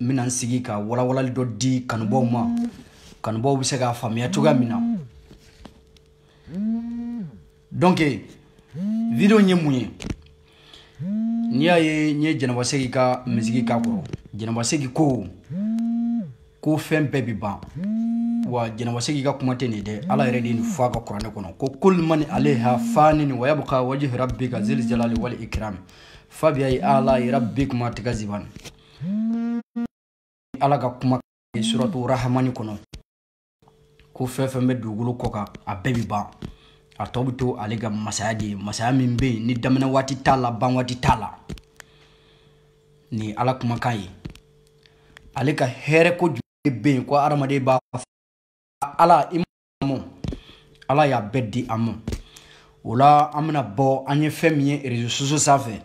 n bɛna n sigi ka walawalali dɔ di kanubaw ma kanubaw bɛ se k'a faamuya cogoya min na donc video ye mun ye n'i y'a ye n ye jɛnɛba segi ka misigi k'a kɔrɔ jɛnɛba segi ko ko fɛn bɛɛ bɛ ban wa jɛnɛba segi ka kuma tɛ nin dɛ ala yɛrɛ de ye nin fɔ a ka kuranɛ kɔnɔ ko kul mani aleha fanin wa yabqa wajhi rabbika zil jalali wal ikram fabiyayi ala rabbikuma tukazibani ala ka kuma suratu rahamani kɔnɔ ko fɛn fɛn bɛ dugukolo kɔ kan a bɛɛ bi ban a tɔ bɛ to ale ka masaya de ye masaya min bɛ yen ni daminɛ waati t'a la ban waati t'a la nin ye ala kumakan ye ale ka hɛrɛ ko jumɛn bɛ yen ko hadamaden b'a fɔ ala i ala y'a bɛɛ di an ma o la an bɛna bɔ an ye fɛn min ye réseaux sociaux sanfɛ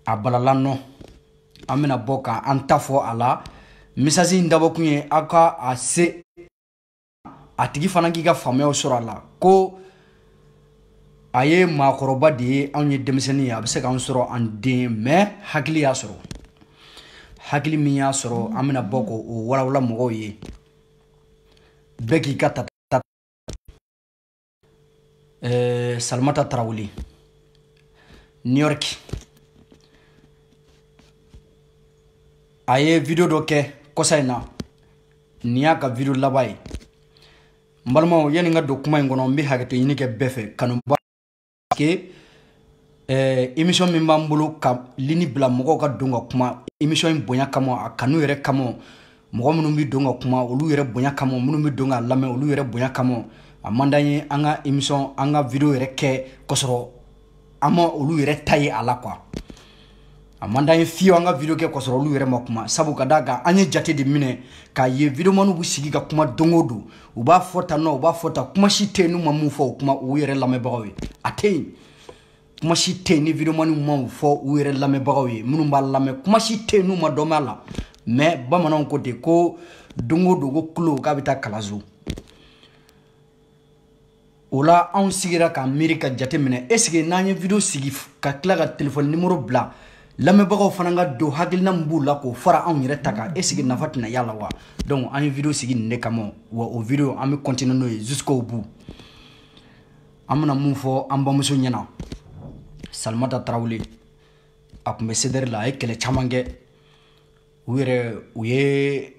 a balala nɔ an bɛna bɔ ka an ta fɔ a la message in dabɔkun ye aw ka a se a tigi fana k'i ka faamuyaw sɔrɔ a la ko a ye maakɔrɔba de ye anw ye denmisɛnnin ye a bɛ se k'an sɔrɔ an den mais hakili y'a sɔrɔ hakili min y'a sɔrɔ an bɛna bɔ k'o walawala mɔgɔw ye bɛɛ k'i ka ta Eh, salimata tarawele new york a ye video dɔ kɛ kɔsa in na nin y'a ka video laban ye n balimaw yani n ka don kuma in kɔnɔ n bɛ hakɛto ɲini kɛ bɛɛ fɛ kanuba que eh, émission min b'an bolo ka lini bila mɔgɔw ka don ka kuma émission in bonya kama a kanu yɛrɛ kama mɔgɔ minnu bɛ don ka kuma olu yɛrɛ bonya kama minnu bɛ don k'a lamɛn olu yɛrɛ bonya kama a man d'an ye an ka émission an ka video yɛrɛ kɛ k'a sɔrɔ an ma olu yɛrɛ ta ye a la quoi a man d'an ye fiyewu an ka video kɛ k'a sɔrɔ olu yɛrɛ ma kuma sabu ka da kan an ye jate de minɛ k'a ye videomaniw bɛ sigi ka kuma don o don u b'a fɔ tan nɔ u b'a fɔ tan kuma si tɛ yen n'u ma min fɔ o kuma u yɛrɛ lamɛnbagaw ye a tɛ yen kuma si tɛ yen ni videomaniw ma o fɔ u yɛrɛ lamɛnbagaw ye minnu b'a lamɛn kuma si tɛ yen n'u ma dɔn b'a la mais bamananw ko ten ko don o don ko kulo k'a bɛ taa kalanso o la anw sigira k'an miiri ka jate minɛ est-ce que n'an ye video sigi ka tila ka telefɔni nimoro bila lamɛnbagaw fana ka don hakilina min b'u la k'o fara anw yɛrɛ ta kan est-ce que nafa tɛna y'a la wa donc an ye video sigi nin de kama wa o video an bɛ continuer n'o ye jusqu'au bout an bɛna mun fɔ an bamuso ɲɛna salimata tarawele a tun bɛ CDR la a ye kɛlɛ caman kɛ u yɛrɛ u ye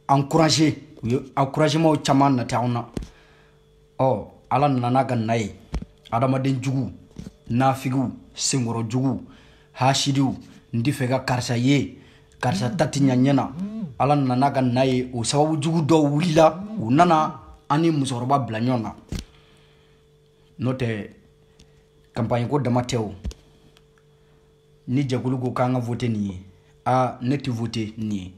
encourager u ye encouragement caman nati anw na ɔ ala nana n'a ka na ye adamaden jugu nafigiw senkɔrɔ jugu hasidiw n t'a fɛ ka karisa ye karisa ta tɛ ɲa ɲɛ na ala nana n'a ka na ye o sababu jugu dɔw wulila u nana an ni musokɔrɔba bila ɲɔgɔn na n'o tɛ kanpaɲiko dama tɛ o ni jɛkulu ko k'an ka vote nin ye a ne tɛ vote nin ye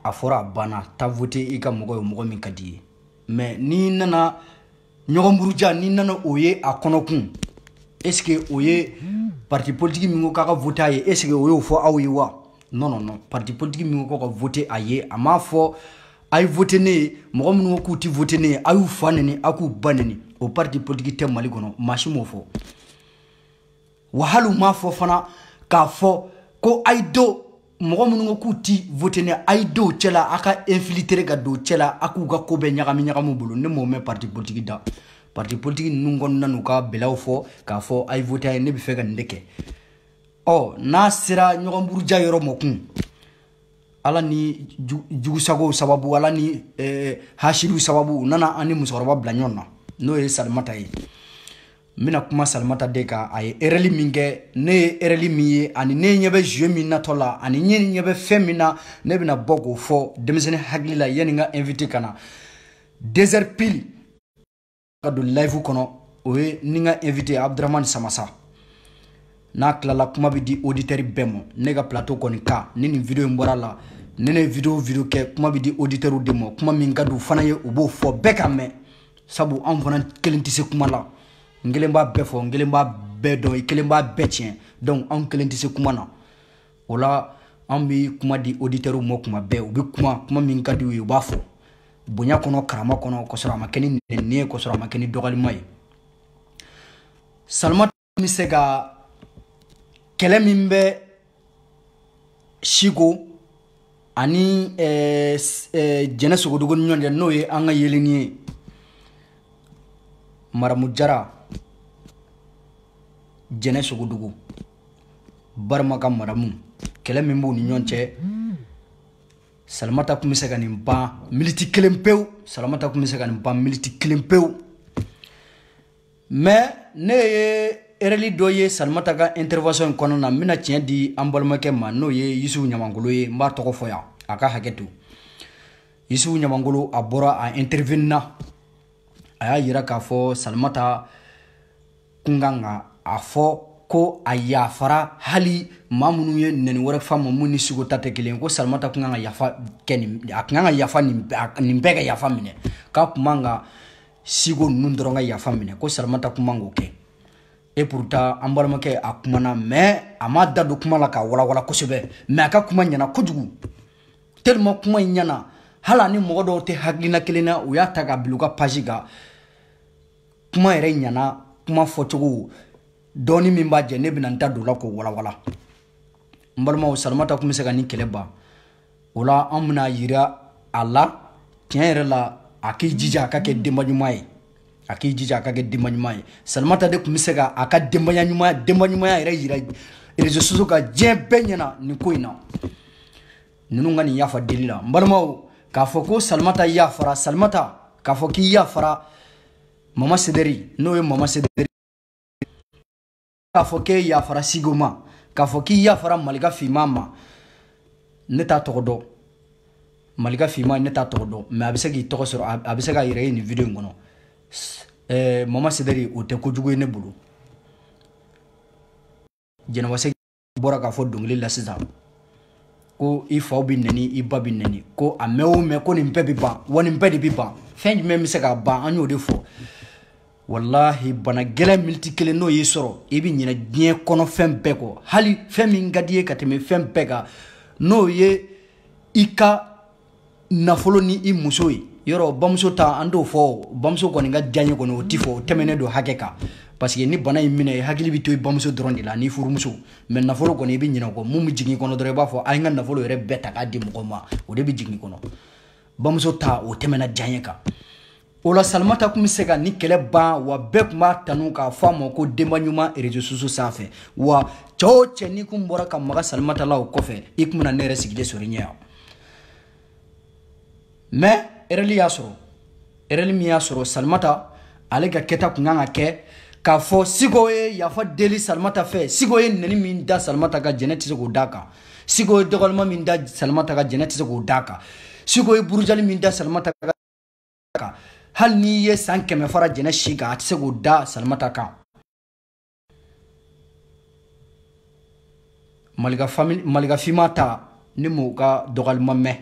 a fɔra a banna taa vote i ka mɔgɔ ye mɔgɔ min ka di ye mɛ n'i nana ɲɔgɔn buruja n'i nana o ye a kɔnɔ kun esike o ye parti politiki min ko k'a ka vote a ye esike o y'o fɔ aw ye wa non non non parti politiki min ko k'aw ka vote a ye a m'a fɔ a ye vote ne ye mɔgɔ minnu ko k'u tɛ vote ne ye a y'u fa neni a k'u ba neni o parti politiki tɛ mali kɔnɔ maa si m'o fɔ wa hali u m'a fɔ fana k'a fɔ ko a ye don mɔgɔ minnu ko k'u ti vote ne a ye don u cɛla a ka infiltre ka don u cɛla a k'u ka ko bɛɛ ɲagami ɲagami u bolo ne m'o mɛn parti politiki da parti politiki ninnu kɔnɔna n'u ka bɛlɛw fɔ k'a fɔ a ye vote a ye ne b'a fɛ ka nin de kɛ ɔ n'a sera ɲɔgɔn buruja yɔrɔ ma kun ala ni jugusagow sababu ala ni eh, hasidiw sababu u nana an ni musokɔrɔba bila ɲɔgɔn na n'o ye salimata ye n bɛna kuma salimata de kan a ye erɛli min kɛ ne ye erɛli min ye ani ne ɲɛ bɛ jeu min natɔ la ani ne ɲɛ bɛ fɛn min na ne bɛna bɔ k'o fɔ denmisɛnnin hakili la yanni n ka invité ka na deux heures pile ka don live kɔnɔ o ye ni n ka invité abdramani samasa n'a tilala kuma bɛ di oditɛri bɛɛ ma ne ka plateau kɔni kan ni nin video in bɔra la ne ne video video kɛ kuma bɛ di oditɛriw de ma kuma min ka di u fana ye u b'o fɔ bɛɛ ka mɛn sabu anw fana kelen tɛ se kuma la n kelen b'a bɛɛ fɔ n kelen b'a bɛɛ dɔn i kelen b'a bɛɛ tiɲɛ donc anw kelen tɛ se kuma na o la an bɛ kuma di oditɛriw ma kuma bɛɛ u bɛ kuma kuma min ka di u ye u b'a fɔ bonya kɔnɔ karama kɔnɔ k'a sɔrɔ a ma kɛ ni nɛni ye k'a sɔrɔ a ma kɛ ni dɔgɔlima ye salima ta bɛ se ka kɛlɛ min bɛ siko ani eh, eh, jɛnɛ sogodogo ni ɲɔgɔn cɛ n'o ye an ka yeleni ye maramu jara jɛnɛ sogodogo barima ka maramu kɛlɛ min b'u ni ɲɔgɔn cɛ salimata tun bɛ se ka nin ban miniti kelen pewu salimata tun bɛ se ka nin ban miniti kelen pewu mais ne ye erreur dɔ ye salimata ka intervention in kɔnɔna na n bɛna tiɲɛ di an balimakɛ ma n'o ye yusufu ɲamankolo ye n b'a tɔgɔ fɔ yan a ka hakɛ to yusufu ɲamankolo a bɔra a intervenina a y'a yira k'a fɔ salimata kun kan ka a fɔ ko a yafara hali maa minnu ye nɛni wɛrɛ f'a ma min ni siko ta tɛ kelen ko salimata kun kan ka yafa kɛ nin a kun kan ka yafa nin bɛɛ ka yafa minɛ k'a kun man ka siko ninnu dɔrɔn ka yafa minɛ ko salimata kun man k'o kɛ et pourtant an balimakɛ a kumana mais a ma da don kuma la k'a walawala kosɛbɛ mais a ka kuma ɲɛna kojugu tellement kuma in ɲɛna hali ni mɔgɔ dɔw tɛ hakilina kelen na u y'a ta ka bila u ka page kan kuma yɛrɛ ɲɛna kuma fɔcogo dɔɔni min b'a jɛ ne bɛna n da don o la k'o walawala n balimaw salimata kun bɛ se ka nin kɛlɛ ban o la an bɛna yira a la tiɲɛ yɛrɛ la a k'i jija a ka kɛ denba ɲuman ye a k'i jija a ka kɛ denba ɲuman ye salimata de kun bɛ se ka a ka denbaya ɲuman denba ɲumanya yɛrɛ yira réseaux sociaux kan diɲɛ bɛɛ ɲɛ na nin ko in na ninnu ka nin yafa deli la n balimaw k'a fɔ ko salimata yafara salimata k'a fɔ k'i yafara mama sederi n'o ye mama sederi k'a fɔ k'e yafara siko ma k'a fɔ k'i yafara malika finman ma ne t'a tɔgɔ dɔn malika finman ne t'a tɔgɔ dɔn mais a bɛ se k'i tɔgɔ sɔrɔ a bɛ se k'a yɛrɛ ye nin video in kɔnɔ ɛɛ mama sederi o tɛ kojugu ye ne bolo jɛnɛba sɛki bɔra k'a fɔ dɔnkili la sisan ko i fa bɛ nɛni i ba bɛ nɛni ko a mɛn o mɛn ko nin bɛɛ bɛ ban wa nin bɛɛ de bɛ ban fɛn jumɛn bɛ se k'a ban an y'o de fɔ walahi bana gɛlɛn miniti kelen n'o y'i sɔrɔ i bɛ ɲinɛ diɲɛ kɔnɔ fɛn bɛɛ kɔ hali fɛn min ka di i ye ka tɛmɛ fɛn bɛɛ kan n'o ye i ka nafolo ni i muso ye yɔrɔ bamuso ta an t'o fɔ bamuso kɔni ka diyanye kɔni o ti fɔ o tɛmɛnen don hakɛ kan parce que ni bana y'i minɛ i hakili bɛ to i bamuso dɔrɔn de la n'i furumuso mais nafolo kɔni i bɛ ɲinɛ o kɔ mun bɛ jigin i kɔnɔ dɔrɔn i b'a fɔ a ye n ka nafolo yɛrɛ bɛɛ ta k'a di mɔgɔ ma o de bɛ jigin i kɔnɔ bamuso ta o tɛmɛna diyanye kan o la salimata kun bɛ se ka nin kɛlɛ ban wa bɛɛ kun b'a tanu k'a fɔ a ma ko denba ɲuman réseaux sociaux sanfɛ wa cɛ o cɛ n'i kun bɔra ka maga salimata la o kɔfɛ i kun bɛna ne yɛrɛ sigilen sɔrɔ i ɲɛ yan mais erreur y'a sɔrɔ erreur min y'a sɔrɔ salimata ale ka kɛta kun kan ka kɛ k'a fɔ siko ye yafa deli salimata fɛ siko ye nɛni min da salimata kan jɛnɛ tɛ se k'o d'a kan siko ye dɔgɔlima min da salimata kan jɛnɛ tɛ se k'o d'a kan siko ye burujali min da salimata kan kan hali n'i ye san kɛmɛ fara jɛnɛ si kan a tɛ se k'o da salimata kan malika finma ta ne m'o ka dɔgɔlima mɛn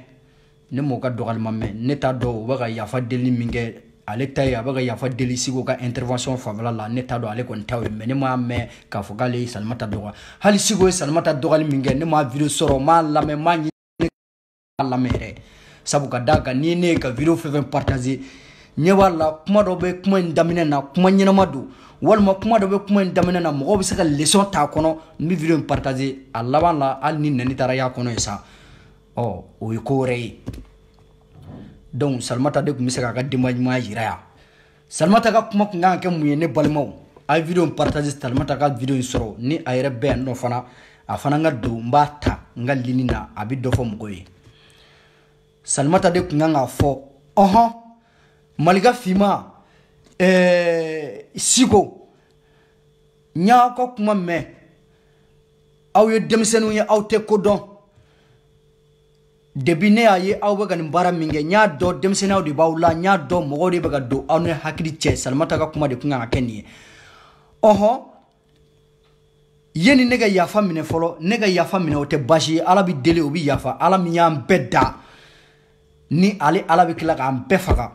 ne m'o ka dɔgɔlima mɛn ne t'a dɔn u bɛ ka yafa deli min kɛ ale ta ye a bɛ ka yafa deli siko ka intervention fanfɛla la ne t'a dɔn ale kɔni ta ye mais ne m'a mɛn k'a fɔ k'ale ye salimata dɔgɔ hali siko ye salimata dɔgɔli min kɛ ne m'a video sɔrɔ m'a lamɛn m'a ɲini a lamɛn yɛrɛ sabu ka d'a kan n'i ye ne ye ka video fɛn fɛn partage ɲɛ b'a la kuma dɔ bɛ kuma in daminɛ na kuma ɲɛnama don walima kuma dɔ bɛ kuma in daminɛ na mɔgɔw bɛ se ka leçon t'a kɔnɔ n bɛ video in partage a laban la hali ni nɛni taara y'a kɔnɔ ye sa ɔ o ye ko wɛrɛ ye donc salimata de kun bɛ se k'a ka denba ɲumanya yira yan salimata ka kuma kun kan ka kɛ mun ye ne balimaw a ye video in partage salimata ka video in sɔrɔ ni a yɛrɛ bɛ yan nɔ fana a fana ka don n b'a ta n ka ligne na a bɛ dɔ fɔ mɔgɔw ye salimata de kun kan k'a fɔ ɔhɔn malika finma ɛɛ siko n y'aw ka kuma mɛn aw ye denmisɛnninw ye aw tɛ ko dɔn depuis ne y'a ye aw bɛ ka nin baara min kɛ n y'a dɔn denmisɛnninya de b'aw la n y'a dɔn mɔgɔw de bɛ ka don aw ni hakili cɛ salimata ka kuma de kun kan ka kɛ nin ye ɔhɔn yeni ne ka yafa minɛ fɔlɔ ne ka yafa minɛ o tɛ baasi ye ala bɛ deli o bɛ yafa ala min y'an bɛɛ da ni ale ala bɛ tila k'an bɛɛ faga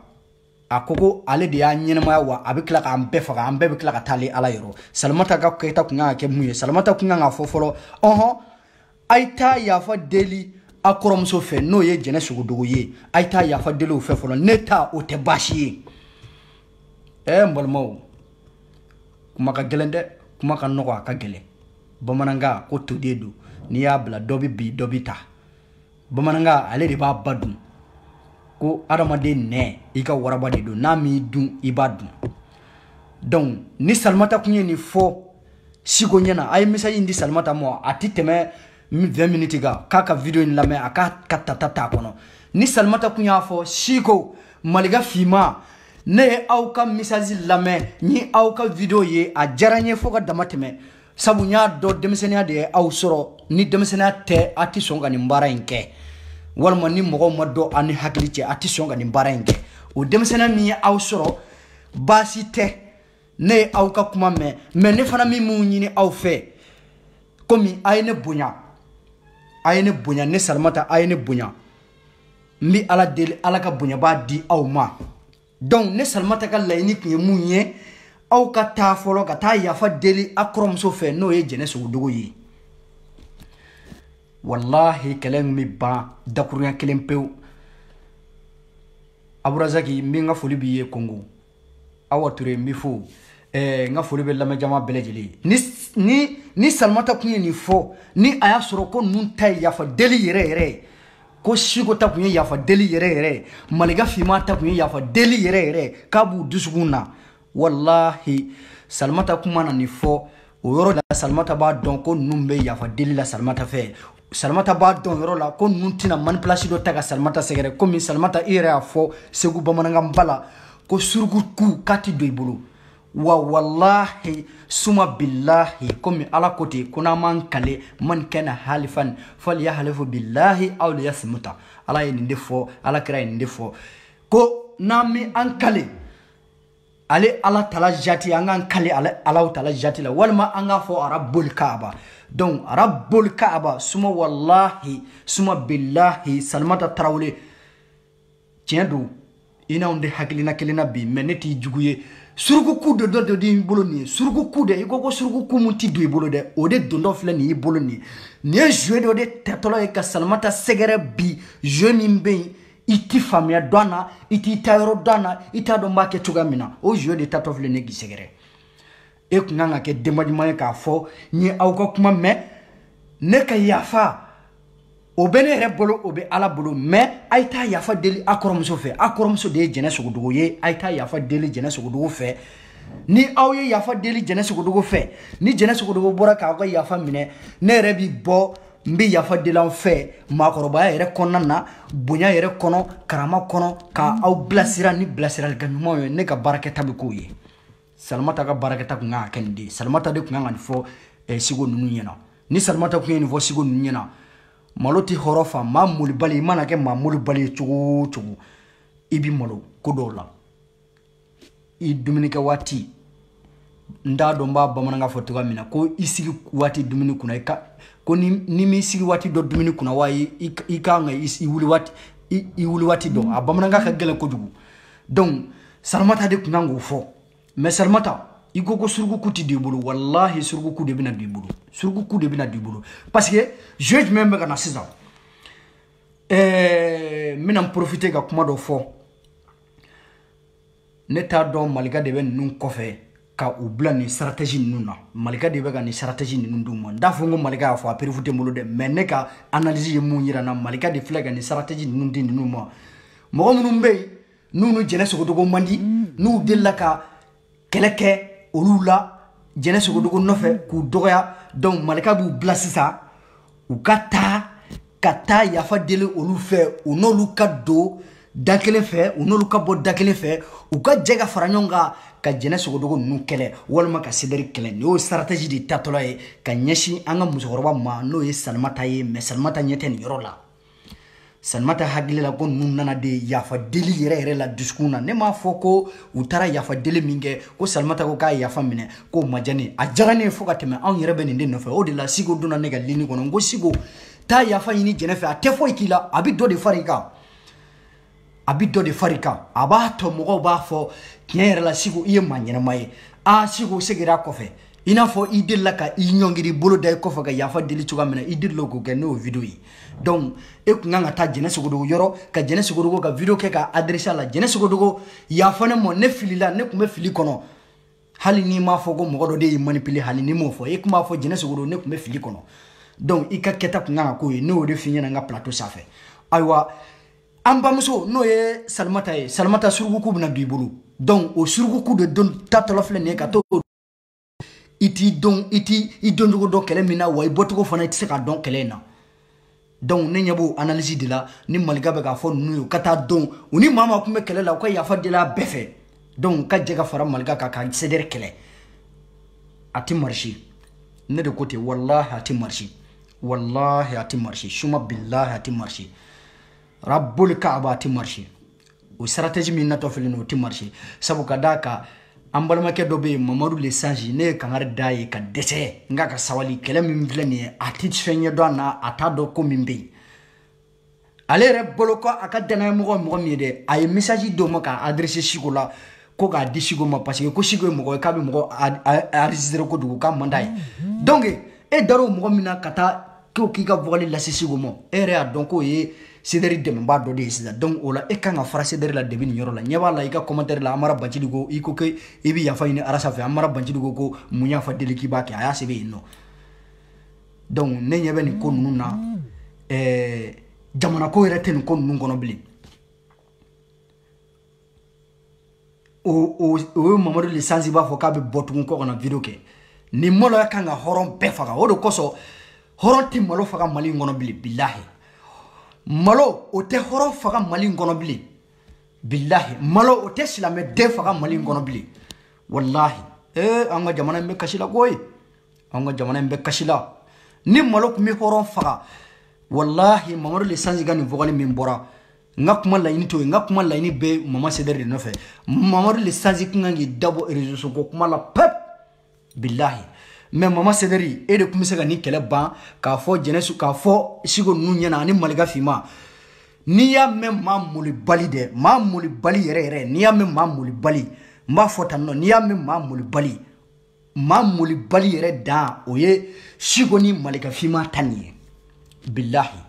a ko ko ale de y'an ɲɛnamaya wa a bɛ tila k'an bɛɛ faga an bɛɛ bɛ tila ka taa ale ala yɔrɔ salimata ka kɛta kun kan ka kɛ mun ye salimata kun kan ka fɔ fɔlɔ ɔhɔn a ye taa yafa deli a kɔrɔmuso fɛ n'o ye jɛnɛ sogodogo ye a ye taa yafa deli o fɛ fɔlɔ ne ta o tɛ baasi ye ɛɛ n balimaw kuma ka gɛlɛn dɛ kuma ka nɔgɔ a ka gɛlɛn bamanankan ko toden don n'i y'a bila dɔ bɛ bin dɔ bɛ ta bamanankan ale de b'a ba dun ko adamaden nɛn i ka waraba de don n'a m'i dun i b'a dun donc ni salimata kun ye nin fɔ siko ɲɛna a ye message in di salimata ma a ti tɛmɛ 20 minutes kan k'a ka video in lamɛn a k'a ka tata t'a kɔnɔ ni salimata kun y'a fɔ siko malika finma ne ye aw ka message lamɛn ni aw ka video ye a diyara n ye fo ka damatɛmɛ sabu n y'a dɔn denmisɛnninya de ye aw sɔrɔ ni denmisɛnninya tɛ a ti sɔn ka nin baara in kɛ walima ni mɔgɔw ma don a ni hakili cɛ a ti sɔn ka nin baara in kɛ o denmisɛnninya min ye aw sɔrɔ baasi tɛ ne ye aw ka kuma mɛn mais ne fana bi mun ɲini aw fɛ komi a ye ne bonya a ye ne bonya ne salimata a ye ne bonya n bɛ ala deli ala ka bonyaba di aw ma donc ne salimata ka laɲini kun ye mun ye aw ka taa fɔlɔ ka taa yafa deli a kɔrɔmuso fɛ n'o ye jɛnɛ sogodogo ye walahi kɛlɛ in bɛ ban dakurunya kelen pewu aburazaki n bɛ n ka foli b'i ye kongo awa ture n b'i fo eh, n ka foli bɛ lamɛnjama bɛɛ lajɛlen ni ni ni salimata kun ye nin fɔ ni a y'a sɔrɔ ko ninnu ta ye yafa deli yɛrɛ yɛrɛ ye ko siko ta kun ye yafa deli yɛrɛ yɛrɛ ye malika finma ta kun ye yafa deli yɛrɛ yɛrɛ k'a b'u dusukun na walahi salimata kun mana nin fɔ o yɔrɔ la salimata b'a dɔn ko ninnu bɛ yafa deli la salimata fɛ salimata b'a dɔn yɔrɔ la ko ninnu tɛna manipulation dɔ ta ka salimata sɛgɛrɛ komi salimata i yɛrɛ y'a fɔ segu bamanankanba la ko surukuku k'a ti don i bolo wa walahi suma bilahi komi ala ko ten ko n'an m'an kale man kana halifan faliyahalifu bilahi aw liyasimuta ala ye nin de fɔ ala kira ye nin de fɔ ko n'an mi an kale ale ala tala jati an k'an kale ala tala jati la walima an k'a fɔ rabbul kaaba donc rabbul kaaba suma wallahi suma billahi salimata tarawele tiɲɛ don i n'anw tɛ hakilina kelen na bi mais ne t'i jugu ye surukuku de dɔ de di i bolo nin ye surukuku de i ko ko surukuku mun ti don i bolo dɛ o de dontɔ filɛ nin y'i bolo nin ye nin ye jeu dɔ de tatɔla ye ka salimata sɛgɛrɛ bi jeu min bɛ yen i ti faamuya dɔn na i t'i ta yɔrɔ dɔn na i t'a dɔn b'a kɛ cogoya min na o jeu de tatɔ filɛ nin k'i sɛgɛrɛ e kun kan ka kɛ denba ɲuman ye k'a fɔ n ye aw ka kuma mɛn ne ka yafa o bɛ ne yɛrɛ bolo o bɛ ala bolo mais a ye taa yafa deli a kɔrɔmuso fɛ a kɔrɔmuso de ye jɛnɛ sogodogo ye a ye taa yafa deli jɛnɛ sogodogo fɛ ni aw ye yafa deli jɛnɛ sogodogo fɛ ni jɛnɛ sogodogo bɔra k'aw ka yafa minɛ ne yɛrɛ bi bɔ n bɛ yafa deli aw fɛ maakɔrɔbaya yɛrɛ kɔnɔna na bonya yɛrɛ kɔnɔ karama kɔnɔ ka aw bilasira ni bilasiralikan ɲumanw ye ne ka baarakɛta bɛ k'o ye salimata ka baarakɛta kun kan ka kɛ nin de ye salimata de kun kan ka nin fɔ eh, siko ninnu ɲɛna ni salimata kun ye nin fɔ siko ninnu ɲɛna malo tɛ hɔrɔn fa maa molibali i mana kɛ maa molibali ye cogo o cogo i bɛ malo ko dɔw la i dumunikɛ waati n t'a dɔn n b'a bamanankan fɔ cogoya min na ko i sigi waati dumuni kunna i ka ko ni n'i m'i sigi waati dɔn dumuni kunna wa i i ka kan ka i wuli waati i wuli waati dɔn a bamanankan ka gɛlɛn kojugu donc salimata de kun kan k'o fɔ mais salimata i ko ko surukuku tɛ don i bolo walahi surukuku de bɛna don i bolo surukuku de bɛna don i bolo parce que jeu jumɛn bɛ ka na sisan ɛɛ n bɛna n profiter ka kuma dɔ fɔ ne t'a dɔn malika de bɛ ninnu kɔfɛ ka u bila nin stratégie ninnu na malika de bɛ ka nin stratégie ninnu d'u ma n t'a fɔ n ko malika y'a fɔ a preuve tɛ n bolo dɛ mais ne ka analyse ye mun yira n na malika de filɛ ka nin stratégie ninnu di ninnu ma mɔgɔ minnu bɛ yen n'u ni jɛnɛ sogodogo man di n'u delila ka kɛlɛ kɛ olu la jɛnɛ sogodogo nɔfɛ k'u dɔgɔya donc malika b'u bila sisan u ka taa ka taa yafa deli olu fɛ u n'olu ka don da kelen fɛ u n'olu ka bɔ da kelen fɛ u ka jɛ ka fara ɲɔgɔn kan ka jɛnɛ sogodogo ninnu kɛlɛ walima ka sedɛri kɛlɛ nin y'o stratégie de tatɔla ye ka ɲɛsin an ka musokɔrɔba ma n'o ye salimata ye mais salimata ɲɛ tɛ nin yɔrɔ la salimata hakili la ko ninnu nana de yafa deli yɛrɛ yɛrɛ la dusukun na ne m'a fɔ ko u taara yafa deli min kɛ ko salimata ko k'a yafa minɛ k'o ma diya ne a diyara ne ye fo ka tɛmɛ anw yɛrɛ bɛ nin de nɔfɛ o de la siko donna ne ka ligne kɔnɔ n ko siko taa yafa ɲini jɛnɛ fɛ a tɛ foyi k'i la a bɛ dɔ de fara i kan a bi dɔ de far'i kan a b'a tɔ mɔgɔw b'a fɔ tiɲɛ yɛrɛ la siko i ye maa ɲɛnama ye a siko segira kɔfɛ i n'a fɔ i delila ka i ɲɔngiri bolo da i kɔfɛ ka yafa deli cogoya min na i delila k'o kɛ n'o video ye donc e kun kan ka taa jɛnɛ sogodogo yɔrɔ ka jɛnɛ sogodogo ka video kɛ ka adresse a la jɛnɛ sogodogo yafa ne mɔ ne filila ne kun bɛ fili kɔnɔ hali n'i m'a fɔ ko mɔgɔ dɔ de y'i manipuler hali n'i m'o fɔ e kun b'a fɔ jɛnɛ sogodogo ne kun bɛ fili kɔnɔ donc i ka kɛta kun kan ka k'o ye ne y'o de f'i ɲɛna n ka plateau sanfɛ ayiwa an bamuso n'o ye salimata ye salimata surukuku bɛna don i bolo donc o surukuku de don tatɔla filɛ nin ye ka to i t'i dɔn i t'i i doncogo dɔn kɛlɛ min na wa i bɔcogo fana i tɛ se k'a dɔn kɛlɛ in na donc ne ɲɛ b'o analyse de la ni malika bɛ k'a fɔ ninnu ye u ka taa donc u ni maa maa kun bɛ kɛlɛ la u ka yafa deli a bɛɛ fɛ donc u ka jɛ ka fara malika kan ka sedɛri kɛlɛ a tɛ marché ne de ko ten walahi a tɛ marché walahi a tɛ marché suma bilahi a tɛ marché rabul kaaba a tɛ marché o stratégie min natɔ filɛ nin o tɛ marché sabu ka d'a kan an balimakɛ dɔ bɛ yen mamadu le sage ne ye kangari d'a ye ka dɛsɛ n k'a ka sabali kɛlɛ min filɛ nin ye a tɛ fɛn ɲɛdɔn a na a t'a dɔn ko min bɛ yen ale yɛrɛ bolo ko a ka dannayamɔgɔ ye mɔgɔ min ye dɛ a ye message d'o ma k'a adresse siko la ko k'a di siko ma parce que ko siko ye mɔgɔ ye k'a bɛ mɔgɔ enregistré kojugu k'a man d'a ye donc e dar'o mɔgɔ min na ka taa ko k'i ka vocal lase siko ma e yɛrɛ y'a dɔn k'o ye sedɛri dɛmɛba dɔ de ye sisan donc o la e kan ka fara sedɛri la depuis nin yɔrɔ la ɲɛ b'a la i ka commentaire la amara bacili ko i ko ke i bɛ yafa ɲini arasa fɛ amara bacili ko ko mun yafa deli k'i b'a kɛ a y'a sɛbɛn yen nɔ donc ne ɲɛ bɛ nin ko ninnu na ɛɛ jamanako yɛrɛ tɛ nin ko ninnu kɔnɔ bilen o ye mamadu le sansi b'a fɔ k'a bɛ bɔ tugun kɔ ka na video kɛ nin maloya kan ka hɔrɔn bɛɛ faga o de kosɔn hɔrɔn tɛ malo faga mali in kɔnɔ bilen bilahi malo o tɛ hɔrɔn faga mali in kɔnɔ bilen bilahi malo o tɛ silamɛ den faga mali in kɔnɔ bilen walahi ee an ka jamana in bɛ kasi la koyi an ka jamana in bɛ kasi la ni malo tun bɛ hɔrɔn faga walahi mamadu le sansi ka nin vocal min bɔra n ka kuma laɲini t'o ye n ka kuma laɲini bɛ mama cdr de nɔfɛ mamadu le sanzi kun kan k'i da bɔ reseau ko kuma la pew bilahi mais mama cdr e de tun bɛ se ka nin kɛlɛ ban k'a fɔ jeunesse k'a fɔ siko ninnu ɲɛna ani malika finma n'i y'a mɛn maa molibali dɛ maa molibali yɛrɛ yɛrɛ n'i y'a mɛn maa molibali n b'a fɔ tan nɔ n'i y'a mɛn maa molibali maa molibali yɛrɛ dan o ye siko ni malika finma ta nin ye bilahi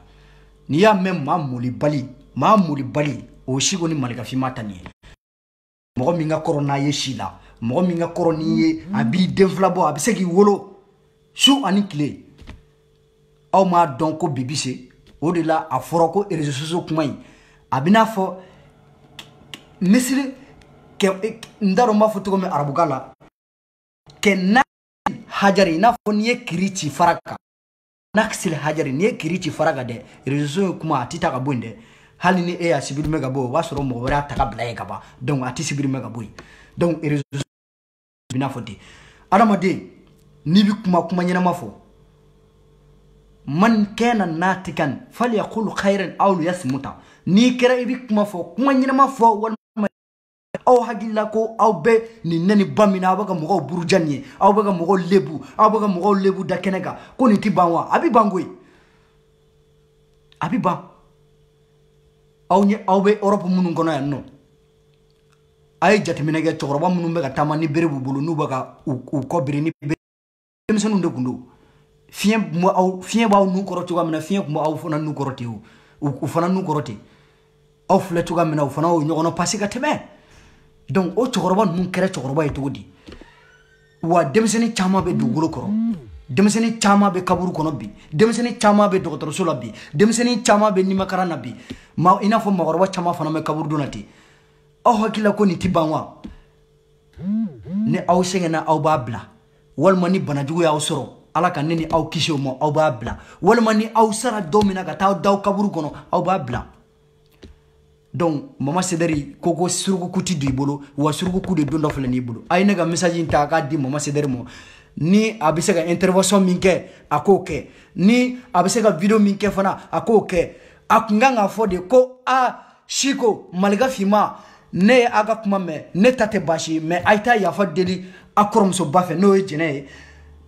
n'i y'a mɛn maa molibali maa molibali o ye siko ni malika finma ta nin ye mɔgɔ min ka kɔrɔ n'a ye si la mɔgɔ min ka kɔrɔ n'i ye a b'i den fila bɔ a bɛ se k'i wolo su ani tile aw m'a dɔn ko bibi se o de la a fɔra ko reseaux sociaux kuma in a bɛ n'a fɔ misali n t'a dɔn n b'a fɔ cogo min arabukan la kɛ na hajari i n'a fɔ n'i ye kiri ci fara kan naksil hajari n'i ye kiri ci fara kan dɛ reseaux sociaux kuma a ti ta ka bɔ yen dɛ hali ni e y'a supprimer ka bɔ o b'a sɔrɔ mɔgɔ wɛrɛ y'a ta ka bila yen ka ban donc a ti supprimer ka bɔ yen donc reseau bɛ n'a fɔ ten adamaden n'i bɛ kuma kuma ɲɛnama fɔ man kana natikan falyakulu khairan aw liyasmuta n'i kɛra i bɛ kuma fɔ kuma ɲɛnama fɔ walima aw hakilila ko aw bɛ nin nɛni ba min na aw bɛ ka mɔgɔw buruja nin ye aw bɛ ka mɔgɔw lebu aw bɛ ka mɔgɔw lebu da kɛnɛ kan ko nin tɛ ban wa a bɛ ban koyi a bɛ ban aw ɲɛ aw bɛ Europe minnu kɔnɔ yan nɔ a ye jateminɛ kɛ cɛkɔrɔba minnu bɛ ka taama ni bere b'u bolo n'u bɛ ka u kɔ biri ni bere denmisɛnninw de tun don fiɲɛ tun bɛ aw fiɲɛ b'aw nu kɔrɔ cogoya min na fiɲɛ tun bɛ aw fana nu kɔrɔ ten o u fana nu kɔrɔ ten aw filɛ cogoya min na u fana y'o ɲɔgɔnna pasi ka tɛmɛ donc o cɛkɔrɔba ninnu kɛra cɛkɔrɔba ye cogo di wa denmisɛnnin caman bɛ dugukolo kɔrɔ denmisɛnnin caman bɛ kaburu kɔnɔ bi denmisɛnnin caman bɛ dɔgɔtɔrɔso la bi denmisɛnnin caman bɛ nimakaran na bi ma i n'a fɔ mɔgɔkɔrɔba caman fana bɛ kaburudon na ten aw hakilila ko nin tɛ ban wa ni aw sɛgɛnna aw b'a bila walima ni banajugu y'aw sɔrɔ ala ka ne ni aw kisi o ma aw b'a bila walima ni aw sara don min na ka taa d'aw kaburu kɔnɔ aw b'a bila donc mama sedɛri ko ko surukuku tɛ don i bolo wa surukuku de don dɔ filɛ n'i bolo a ye ne ka message in ta k'a di mama sedɛri ma ni a bɛ se ka intervention min kɛ a k'o kɛ ni a bɛ se ka video min kɛ fana a k'o kɛ a kun kan k'a fɔ de ko a siko malika finma ne ye a ka kuma mɛn ne ta tɛ baasi ye mais a ye taa yafa deli a kɔrɔmusoba fɛ n'o ye jɛnɛ ye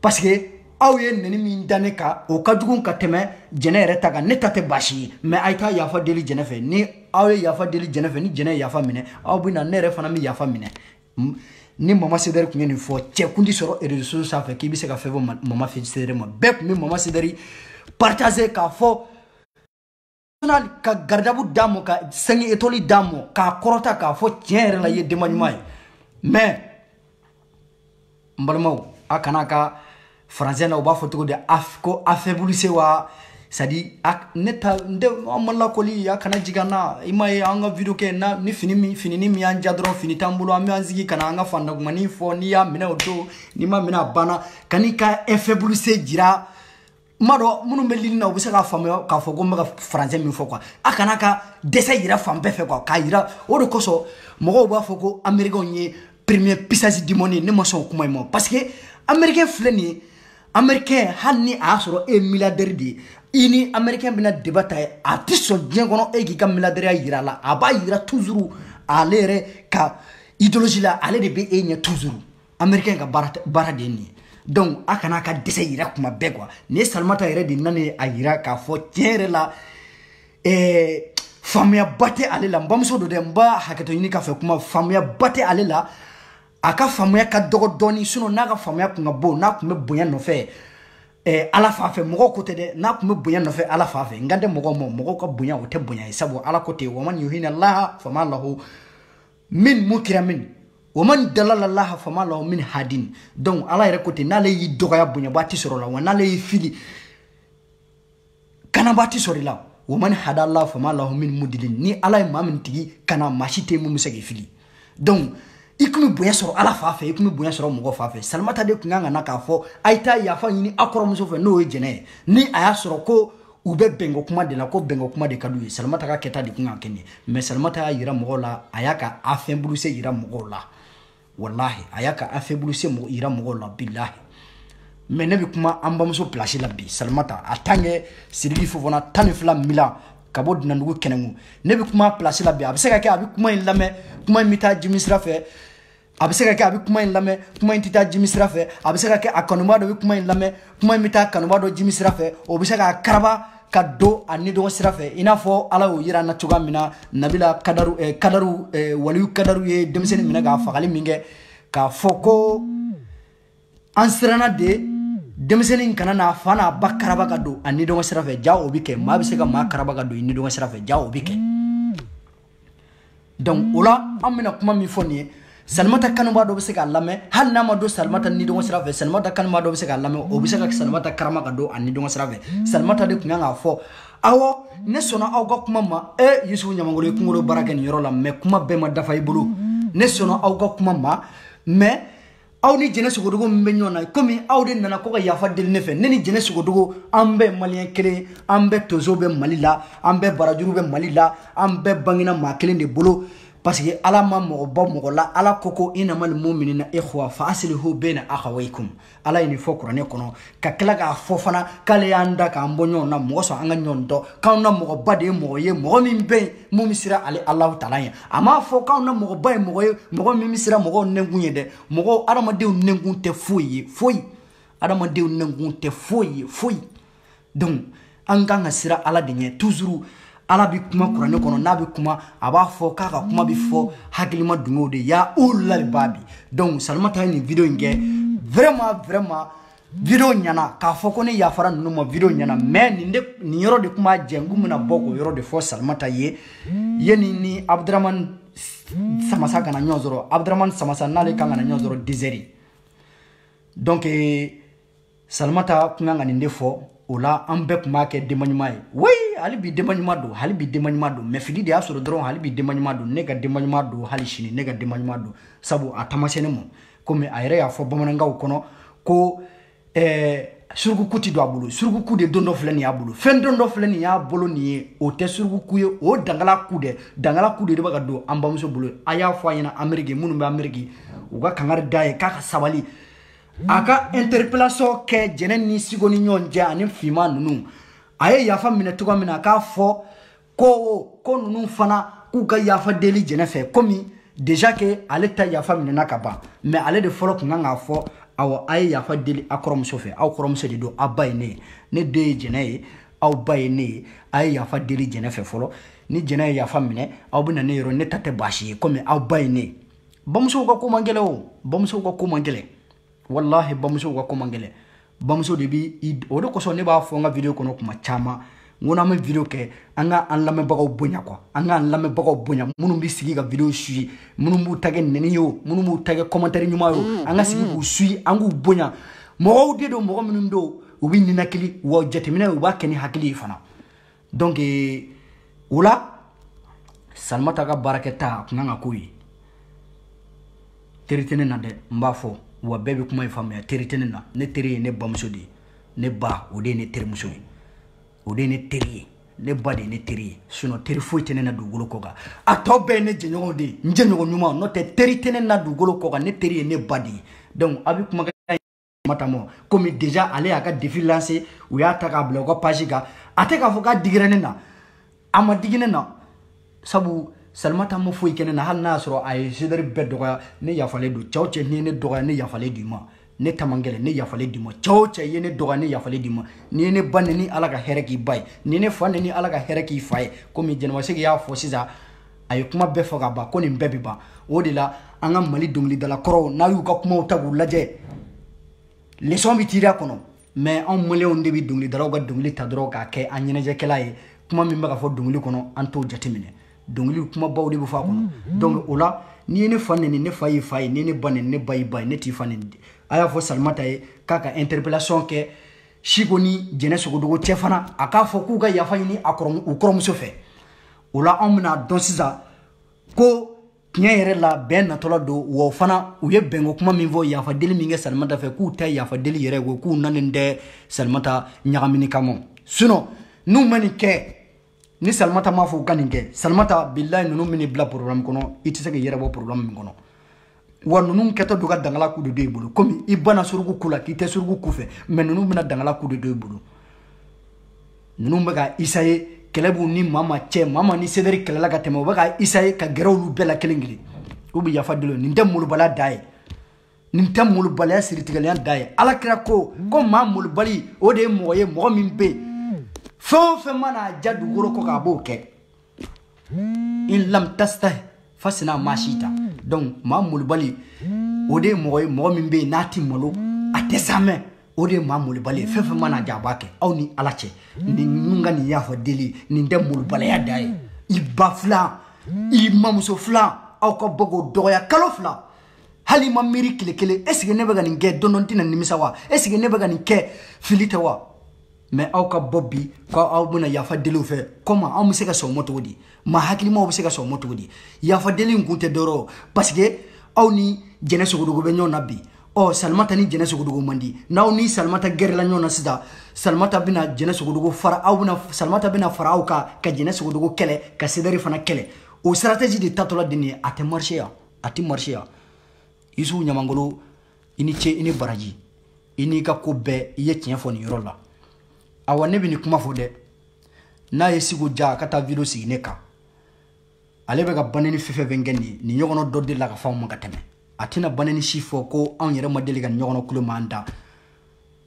parce que aw ye neni min da ne kan o ka jugu ka tɛmɛ jɛnɛ yɛrɛ ta kan ne ta tɛ baasi ye mais a ye taa yafa deli jɛnɛ fɛ ni aw ye yafa deli jɛnɛ fɛ ni jɛnɛ ye yafa minɛ aw bɛ na ne yɛrɛ fana bɛ yafa minɛ ni mama sedɛri tun ye nin fɔ cɛ kun tɛ sɔrɔ réseaux sanfɛ k'i bɛ se ka fɛn fɔ mama sedɛri ma bɛɛ tun bɛ mama sedɛri partager k'a fɔ national ka gardabu d'a ma ka cinq étoiles d'a ma k'a kɔrɔta k'a fɔ tiɲɛ yɛrɛ la i ye denba ɲuman ye mais n balimaw a kana ka français na u b'a fɔ cogo di ko affaiblissé wa c'est-à-dire ne ta n tɛ an ma lakɔli a kana jigin an na i ma ye an ka video kɛ na ni fini min fini ni min y'an ja dɔrɔn fini t'an bolo an bɛ an sigi ka na an ka faantankumanin fɔ n'i y'a minɛ o don n'i ma minɛ a banna kana i ka affaiblissé jira n b'a dɔn minnu bɛ ligne na u bɛ se k'a faamuya k'a fɔ ko n bɛ ka français min fɔ quoi a kana ka dɛsɛ yira fan bɛɛ fɛ quoi k'a yira o de kosɔn mɔgɔw b'a fɔ ko américainw ye premier puissance du monde ye ne ma sɔn o kuma in ma parce que américain filɛ nin ye américain hali ni a y'a sɔrɔ e ye milliardaire de ye i ni américain bɛna débat ta ye a tɛ sɔn diɲɛ kɔnɔ e k'i ka milliardaireya yira a la a b'a yira toujours ale yɛrɛ ka idéologie la ale de bɛ e ɲɛ toujours américain ka baara tɛ- baara de ye nin ye donc a kana a ka dɛsɛ yira kuma bɛɛ quoi nin ye salimata yɛrɛ de nana ye a yira k'a fɔ tiɲɛ yɛrɛ la eh, faamuyaba tɛ ale la n bamuso don dɛ n b'a hakɛto ɲini k'a fɛ kuma faamuyaba tɛ ale la a ka faamuya ka dɔgɔ dɔɔni sinon n'a ka faamuya kun ka bon n'a kun bɛ bonya nɔfɛ eh, ala fan fɛ mɔgɔw ko tɛ dɛ n'a kun bɛ bonya nɔfɛ ala fan fɛ n kan tɛ mɔgɔw ma mɔgɔw ka bonya o tɛ bonya ye sabu ala ko ten wa man yuhina allaha fama lahu min mukrimin wa man dalala allaha fama lahu min hadin donc ala yɛrɛ ko ten n'ale y'i dɔgɔya bonyabaa tɛ sɔrɔ la wa n'ale y'i fili kanabaa tɛ sɔrɔ i la wa man hada allaha fama lahu min mudilin ni ala ye maa min tigi kana maa si tɛ min bɛ se k'i fili donc i tun bɛ bonya sɔrɔ ala fan fɛ i tun bɛ bonya sɔrɔ mɔgɔ fan fɛ salimata de tun kan ka na k'a fɔ a ye taa yafa ɲini a kɔrɔmuso fɛ n'o ye jɛnɛ ye ni a y'a sɔrɔ ko u bɛ bɛnko kuma de la ko bɛnko kuma de ka d'u ye salimata ka kɛta de kun kan ka kɛ nin mais salimata y'a yira mɔgɔw la a y'a ka affaiblissé yira mɔgɔw la walahi a y'a ka affaiblissé yira mɔgɔw la bilahi mais ne bɛ kuma an bamuso place la bi salimata en tant que sidiki fofana tan ni fila milan ka bɔ dunandugu kɛnɛmu ne bɛ kuma place la bi a bɛ se ka kɛ a bɛ kuma in lamɛn kuma in bɛ taa jimi sira fɛ a bɛ se ka kɛ a bɛ kuma in lamɛn kuma in tɛ taa jimi sira fɛ a bɛ se ka kɛ a kanubaa dɔ bɛ kuma in lamɛn kuma in bɛ taa kanubaa dɔ jimi sira fɛ o bɛ se k'a karaba ka don a ni dɔgɔ sira fɛ i n'a fɔ ala y'o yira an na cogoya min na nabila kadaru eh, kadaru eh, waliyu kadaru ye denmisɛnnin minɛ k'a fagali min kɛ k'a fɔ ko an siranna de denmisɛnnin kana n'a fa n'a ba karaba ka don a ni dɔgɔ sira fɛ ja o bɛ kɛ maa bɛ se ka maa karaba ka don i ni dɔgɔ sira fɛ ja o bɛ kɛ donc o la an bɛna kuma min fɔ nin ye salimata kanubaa dɔ bɛ se k'a lamɛn hali n'a ma don salimata nidɔngɔ sira fɛ salimata kanubaa dɔ bɛ se k'a lamɛn o bɛ se ka salimata karaba ka don a nidɔngɔ sira fɛ salimata de tun kan k'a fɔ awɔ ne sɔnna aw ka kuma ma e yusufu ɲamangolo ye kunkolo baara kɛ nin yɔrɔ la mais kuma bɛɛ ma dafa i bolo ne sɔnna aw ka kuma ma mais aw ni jɛnɛ sogodogo min bɛ ɲɔgɔn na komi aw de nana ko ka yafa deli ne fɛ ne ni jɛnɛ sogodogo an bɛɛ maliyɛn kelen an bɛɛ tonso bɛ mali la an bɛɛ barajuru bɛ mali la an bɛɛ bangena maa kelen de bolo parce que ala ma mɔgɔ bɔ mɔgɔ la ala ko ko inama lmuminina ihwa fa asilihu bena akhawaykum ala ye nin fɔ kuranɛ kɔnɔ ka tila k'a fɔ fana k'ale y'an da k'an bɔ ɲɔgɔn na mun kɔsɔn an ka ɲɔgɔn dɔn k'anw na mɔgɔba de ye mɔgɔ ye mɔgɔ min bɛ yen mun bɛ siran ale alahu taala ɲɛ a m'a fɔ k'anw na mɔgɔba ye mɔgɔ ye mɔgɔ min bɛ siran mɔgɔw nɛnkun ɲɛ dɛ mɔgɔw adamadenw nɛnkun tɛ foyi ye foyi adamadenw nɛnkun tɛ foyi ye foyi donc an kan ka siran ala de ɲɛ toujours ala bɛ kuma kuranɛ kɔnɔ n'a bɛ kuma a b'a fɔ k'a ka kuma bɛ fɔ hakilima dungew de ya ulul albabi donc salimata ye nin video in kɛ vraiment vraiment video ɲana k'a fɔ ko ne yafara ninnu ma video ɲana mais nin de nin yɔrɔ de tun b'a jɛ n kun bɛna bɔ k'o yɔrɔ de fɔ salimata ye yanni ni abudramani samasa ka na ɲɔgɔn sɔrɔ abudramani samasa n'ale kan ka na ɲɔgɔn sɔrɔ dix heures donc salimata kun kan ka nin de fɔ o la an bɛɛ tun b'a kɛ denba ɲuman ye oui hali bi denba ɲuman don hali bi denba ɲuman don mais fili de y'a sɔrɔ dɔrɔn hali bi denba ɲuman don ne ka denba ɲuman don hali sini ne ka denba ɲuman don sabu a tamasɛni mɔ komi a yɛrɛ y'a fɔ bamanankan kɔnɔ ko eh, surukuku ti don a bolo surukuku de don dɔ filɛ nin y'a bolo fɛn don dɔ filɛ nin y'a bolo nin ye o tɛ surukuku ye o dangala ku dɛ dangala ku de de bɛ ka don an bamuso bolo a y'a fɔ a ɲɛna ameriki minnu bɛ ameriki u ka kangari d'a ye k'a ka sabali a ka interpellation kɛ jɛnɛ ni sigo ni ɲɔgɔn cɛ ani finman ninnu a ye yafa minɛ cogoya min na a k'a fɔ ko ko ninnu fana k'u ka yafa deli jɛnɛ fɛ komi déjà que ale ta yafa minɛna ka ban mais ale de fɔlɔ kun kan k'a fɔ awɔ a ye yafa deli a kɔrɔmuso fɛ aw kɔrɔmuso de don aw ba ye ne ye ne den ye jɛnɛ ye aw ba ye ne ye a ye yafa deli jɛnɛ fɛ fɔlɔ ni jɛnɛ ye yafa minɛ aw bɛ na ne yɔrɔ ne ta tɛ baasi ye komi aw ba ye ne ye bamusow ka ko man gɛlɛn o bamusow ka ko man gɛlɛn walahi bamusow ka ko man gɛlɛn bamuso de bi o de kosɔn ne b'a fɔ n ka video kɔnɔ kuma caman n ko n'an bɛ video kɛ an ka an lamɛnbagaw bonya quoi an ka an lamɛnbagaw bonya minnu bɛ sigi ka video suye minnu b'u ta kɛ nɛni ye o minnu b'u ta kɛ kɔmantɛri ɲuman ye o mm, an ka sigi mm. k'u suye an k'u bonya mɔgɔw de don mɔgɔ minnu don u bɛ ninakili wa jateminɛ u b'a kɛ ni hakili ye fana donc eh, o la salimata ka baarakɛta a kun kan ka k'o ye teri tɛ ne na dɛ n b'a fɔ wa bɛɛ bɛ kuma in faamuya teri tɛ ne na ne teri ye ne bamuso de ye ne ba o de ye ne terimuso ye o de ye ne teri ye ne ba de ye ne teri ye sinɔn teri foyi tɛ ne na dugukolo kɔ kan a tɔ bɛɛ ye ne jɛɲɔgɔn de ye n jɛɲɔgɔn ɲuman n'o tɛ teri tɛ ne na dugukolo kɔ kan ne teri ye ne ba de ye donc a bɛ kuma kan mata ma komi déjà ale y'a ka défi lancer u y'a ta k'a bila u ka page kan a tɛ k'a fɔ k'a digira ne na a ma digi ne na sabu salimata ma foyi kɛ ne na hali n'a y'a sɔrɔ a ye zedɛri bɛɛ dɔgɔya ne yafalen don cɛ o cɛ n'i ye ne dɔgɔya ne yafalen d'i ma ne ta man gɛlɛn ne yafalen d'i ma cɛ o cɛ ye ne dɔgɔya ne yafalen d'i ma n'i ye ne ba neni ala ka hɛrɛ k'i ba ye n'i ye ne fa neni ala ka hɛrɛ k'i fa ye komi jɛnɛba sɛki y'a fɔ sisan a ye kuma bɛɛ fɔ ka ban ko nin bɛɛ bɛ ban o de la an ka mali dɔnkilidala kɔrɔw n'a y'u ka kumaw ta k'u lajɛ leçon bɛ tirer a kɔnɔ mais anw maliyɛnw de bɛ dɔnkilidalaw ka dɔnkili ta dɔrɔn k'a kɛ an ɲɛnajɛkɛla ye kuma min bɛ ka fɔ dɔnkili kɔnɔ an t'o jateminɛ dɔnkili kumabaw de bɛ fɔ a kɔnɔ mm-hmm. donc o la n'i ye ne fa neni ne fa y'i fa ye n'i ye ne ba neni ne ba y'i ba ye ne t'i fa neni a y'a fɔ salimata ye k'a ka interpellation kɛ siko ni jɛnɛ sogodogo cɛ fana a k'a fɔ k'u ka yafa ɲini a kɔrɔ u kɔrɔmuso fɛ o la anw bɛna dɔn sisan ko tiɲɛ yɛrɛ la bɛn natɔla don wa fana u ye bɛnko kuma min fɔ yafa deli min kɛ salimata fɛ k'u ta yafa deli yɛrɛ ko k'u nanen tɛ salimata ɲagamini kama sinɔn n'u ma nin kɛ ni salimata m'a fɔ u ka nin kɛ salimata bilahi ninnu bɛ n'i bila porobilɛmu kɔnɔ i tɛ se k'i yɛrɛ bɔ porobilɛmu min kɔnɔ wa ninnu kɛtɔ don ka dangala ku de don i bolo komi i banna suruku ku la k'i tɛ suruku ku fɛ mais ninnu bɛna dangala ku de don i bolo ninnu bɛ ka essayer kɛlɛ b'u ni mama cɛ mama ni zedɛri kɛlɛla ka tɛmɛ u bɛ ka essayer ka gɛrɛ olu bɛɛ la kelen kelen u bɛ yafa deli nin tɛ molobaliya dan ye nin tɛ molobaliya siritigɛlenya dan ye ala kira ko ko maa molobali o de ye mɔgɔ ye mɔgɔ min bɛ yen fɛn o fɛn mana a diya dugukolo kɔ kan a b'o kɛ in lam tastahi fasina maa sita donc maa molobali o de ye mɔgɔ ye mɔgɔ min bɛ yen n'a ti malo a tɛ saamɛ o de ye maa molobali ye fɛn fɛn man'a diya a b'a kɛ aw ni ala cɛ nin ninnu ka nin yafa deli nin tɛ molobaliya dan ye i ba filan i mamuso filan aw ka bɔ k'o dɔgɔya kalo fila hali i ma miiri tile kelen esike ne bɛ ka nin kɛ don dɔ n tɛna nimisa wa esike ne bɛ ka nin kɛ fili tɛ wa mais aw ka bɔ bi ko aw bɛna yafa deli u fɛ comment anw bɛ se ka sɔn o ma cogo di maa hakilimaw bɛ se ka sɔn o ma cogo di yafa deli in kun tɛ dɔwɛrɛ parce que aw ni jɛnɛ sogodogo bɛ ɲɔgɔn na bi ɔ salimata ni jɛnɛ sogodogo man di n'aw ni salimata gɛrɛla ɲɔgɔn na sisan salimata bɛna jɛnɛ sogodogo fara aw bɛna salimata bɛna fara aw kan ka jɛnɛ sogodogo kɛlɛ ka sedɛri fana kɛlɛ o stratégie de tatɔla de nin ye a tɛ marcher yan a tɛ marcher yan isufu ɲamangolo i ni ce i ni baraji i n'i ka ko bɛɛ i ye tiɲɛ fɔ nin yɔrɔ la awa ne bɛ nin kuma fɔ dɛ n'a ye siko ja a ka taa video sigi ne kan ale bɛ ka baneni fɛn fɛn kɛ nin nin ɲɔgɔnna dɔ delila ka fɔ anw ma ka tɛmɛ a tɛna baneni si fɔ ko anw yɛrɛ ma deli ka nin ɲɔgɔnna kulo m'an da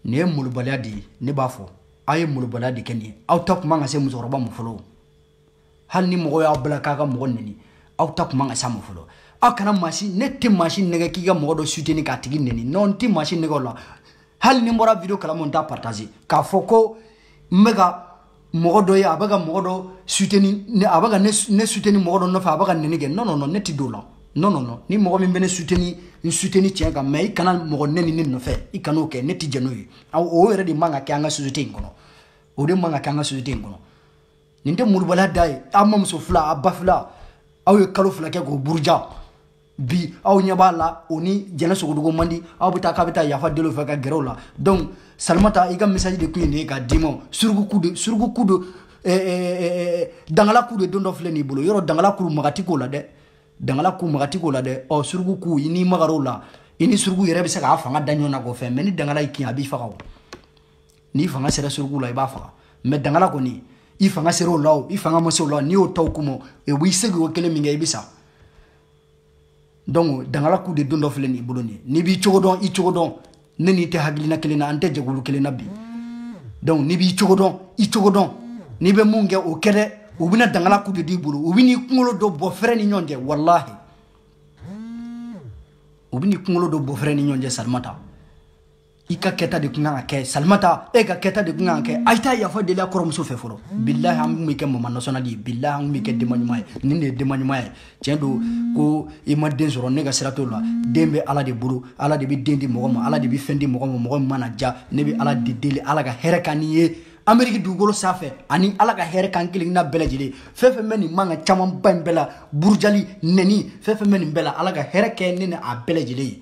nin ye molobaliya de ye ne b'a fɔ aw ye molobaliya de kɛ nin ye aw ta tun man ka se musokɔrɔba ma fɔlɔ hali ni mɔgɔ y'aw bila k'a ka mɔgɔ neni aw ta kun man ka s'a ma fɔlɔ aw kana maa si ne tɛ maa si nɛgɛn k'i ka mɔgɔ dɔ soutenir k'a tigi neni non n tɛ maa si nɛgɛn o la hali ni n bɔra video kalama n t'a partager k'a fɔ ko n bɛ ka mɔgɔ dɔ ye a bɛ ka mɔgɔ dɔ soutenir a bɛ ka ne soutenir mɔgɔ dɔ nɔfɛ a bɛ ka neni kɛ non non non ne tɛ don o la non non non ni mɔgɔ min bɛ ne soutenir n soutenir tiɲɛ kan mais i kana mɔgɔ nɛni ne nɔfɛ i kan'o kɛ ne tɛ jɛn n'o ye o yɛrɛ de man ka kɛ an ka société in kɔnɔ o de man ka kɛ an ka société in kɔnɔ nin tɛ molobaliya dan ye aw mamuso fila aw ba fila aw ye kalo fila kɛ k'o buruja bi aw ɲɛ b'a la o ni jɛnɛ sogodogo man di aw bɛ taa k'a bɛ taa yafa deli o fɛ ka gɛrɛ o la donc salimata i ka message de tun ye nin ye k'a d'i ma suruku ku de suruku ku de eh, eh, eh, dangala ku de dontɔ filɛ n'i bolo yɔrɔ dangala ku maga tɛ k'o la dɛ dangala ku maga tɛ k'o la dɛ ɔ suruku ku i n'i magar'o la i ni suruku yɛrɛ bɛ se k'a fanga da ɲɔgɔn na k'o fɛn mais ni dangala y'i kin a b'i faga o n'i fanga sera suruku la i b'a faga mais dangala kɔni i fanga sera o la o i fanga ma se o la n'i y'o ta o ku ma o b'i segi o kelen min kɛ i bɛ sa donc dangala ku de dontɔ filɛ nin i bolo nin ye n'i b'i cogo dɔn i cogo dɔn ne n'i tɛ hakilina kelen na an tɛ jɛkulu kelen na bi donc n'i b'i cogo dɔn i cogo dɔn n'i bɛ mun kɛ o kɛ dɛ u bɛna dangala ku de d'i bolo u bɛn'i kunkolo don bɔ fɛrɛnnen ɲɔgɔn cɛ walahi u bɛn'i kunkolo don bɔ fɛrɛnnen ɲɔgɔn cɛ salimata i ka kɛta de tun kan ka kɛ salimata e ka kɛta de tun kan ka kɛ a taa yafa deli a kɔrɔmuso fɛ fɔlɔ bilahi an b'i kɛ maman nationale de ye bilahi an b'i kɛ denba ɲuman ye nin de ye denba ɲuman ye tiɲɛ don ko i ma den sɔrɔ ne ka sira t'o la den bɛ ala de bolo ala de bɛ den di mɔgɔ ma ala de bɛ fɛn di mɔgɔ ma mɔgɔ min mana ja ne bɛ ala de deli ala ka hɛrɛ kɛ ne ye ameriki dugukolo sanfɛ ani ala ka hɛrɛ k'an kelenkelenna bɛɛ lajɛlen fɛn fɛn bɛ nin mankan camanba in bɛɛ la burujali nɛni fɛn fɛn bɛ nin bɛɛ la ala ka hɛrɛ kɛ ne ni a bɛɛ lajɛlen ye